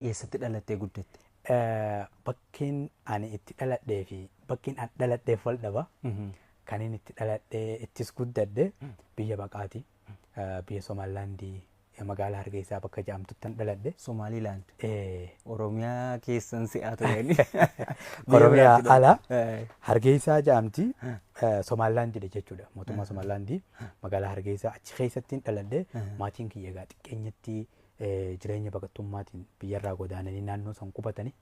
Eessatti dhalattee guddatte? Bakkeen ani itti dhaladhee fi bakkeen an dhaladheef wal dhaba. Kanin itti dhaladhee ittis guddadhe biyya baqaati. Biyya Somaalilaandii magaalaa Hargeysaa bakka jedhamtuttan dhaladhe. Somaalilaand. Eh, Oromiyaa keessan si'aa turani. Oromiyaa ala Hargeysaa jedhamti. Somaalilaandidha jechuudha. Mootummaa Somaalilaandii magaalaa Hargeysaa achi keessattiin dhaladhe. Maatiin kiyya egaa xiqqeenyatti eh, jireenya baqattummaatiin biyyarraa godaananii naannoo san qubatanii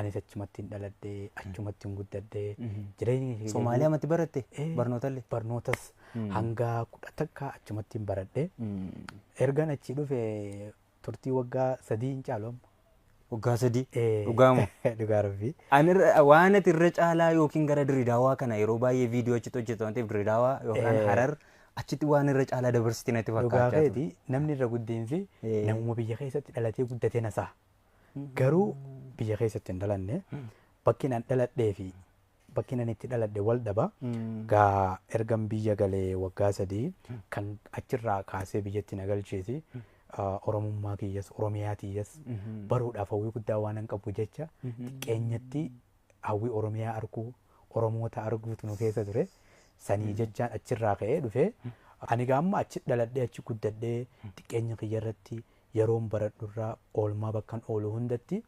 anis achumattiin dhaladhee achumattiin guddadhee jireenya kiyya Somaaliyaa matti baratte Eh. barnootallee. barnootas hanga kudha takka achumattiin baradhee ergan achi dhufe turtii waggaa sadii hin caalu amma. Waggaa sadii. Eh, Dhugaa moo? Dhugaa rabbii. Ani irra- waan ati irra caalaa yookiin gara Dirreedawaa kana yeroo baay'ee viidiyoo achitti hojjetu waan ta'eef Dirreedawaa yookaan Eh. Harar achitti waan irra caalaa dabarsiti natti Dhugaa fakkaachaa ture. keeti namni irra guddeensi Eh. namuma biyya keessatti dhalatee guddatee nasaa. Garuu biyya keessatti hin dhalanne bakki an dhaladhee fi bakkiin ani itti dhaladhe wal dhaba. Gaa ergan biyya galee waggaa sadii kan achirraa kaasee biyyatti na galcheesi. Ah, Oromummaa kiyyas, Oromiyaa tiyyas baruudhaaf hawwii guddaa waan hin qabu jecha xiqqeenyatti hawwii Oromiyaa arguu, Oromoota arguutu nu keessa ture. Sanii jechaan achirraa ka'ee dhufee ani gaa amma achi dhaladhee achi guddadhee xiqqeenya kiyya irratti yeroon baradhurraa oolmaa bakkan oolu hundatti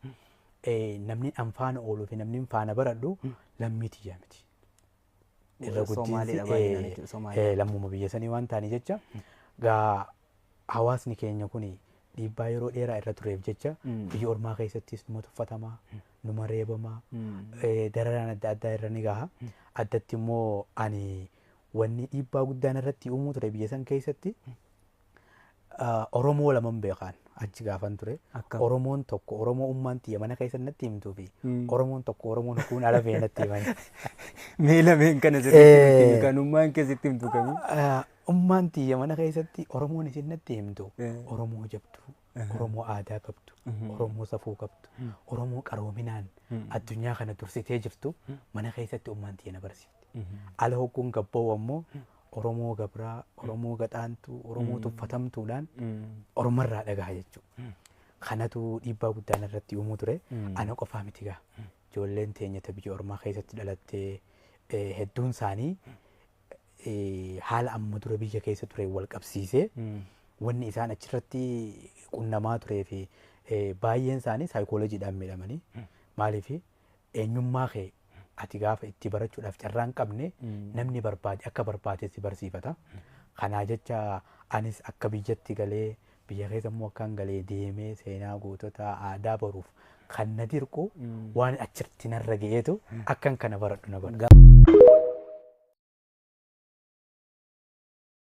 namni an faana ooluu fi namni faana baradhu lammii tiyyaa miti. Irra guddiinsi lammuma biyya sanii waan ta'anii jecha gaa hawaasni keenya kun dhiibbaa yeroo dheeraa irra tureef jecha biyya ormaa keessattis numa tuffatamaa numa reebamaa dararaan adda addaa irra ni gaha. Addatti immoo ani wanni dhiibbaa guddaan irratti uumuu ture biyya san keessatti ah, Oromoo laman beekaan achi gaafan ture. Akkam? Oromoon tokko Oromoo ummaan tiyya mana keessa natti himtuu fi Mm. Oromoon tokko Oromoon hukuun ala ba'e natti himan. Mee lameen kana sirriitti nutti himi, Eh. kan ummaan keessatti himtu kamii? Ah, Ummaan tiyya mana keessatti Oromoon isin natti himtu Eh. Oromoo jabduu. Oromoo aadaa qabdu, Oromoo safuu qabdu, Oromoo qaroominaan addunyaa kana dursitee jirtu mana keessatti ummaan tiyya na barsiifte. Ala hogguun gabba'u ammoo Oromoo gabraa, Oromoo gaxaantuu, Oromoo tuffatamtuudhaan ormarraa dhagaha jechuudha. Kanatu dhiibbaa guddaa narratti uumuu ture. Ana qofaa miti gaa. Ijoolleen teenya ta biyya ormaa keessatti dhalattee eh, hedduun isaanii eh, haala amma dura biyya keessa tureen wal qabsiisee wanni isaan achirratti qunnamaa turee fi eh, baay'een isaanii saayikoolojiidhaan miidhamanii maaliif eenyummaa kee ati gaafa itti barachuudhaaf carraa hin qabne namni barbaade akka barbaade si barsiifata. Kanaa jecha anis akka biyyatti galee Biyya keessa immoo akkaan galee deemee seenaa goototaa aadaa baruuf kan na dirqu waan achirratti narra ga'eetu akkan kana baradhu na godha.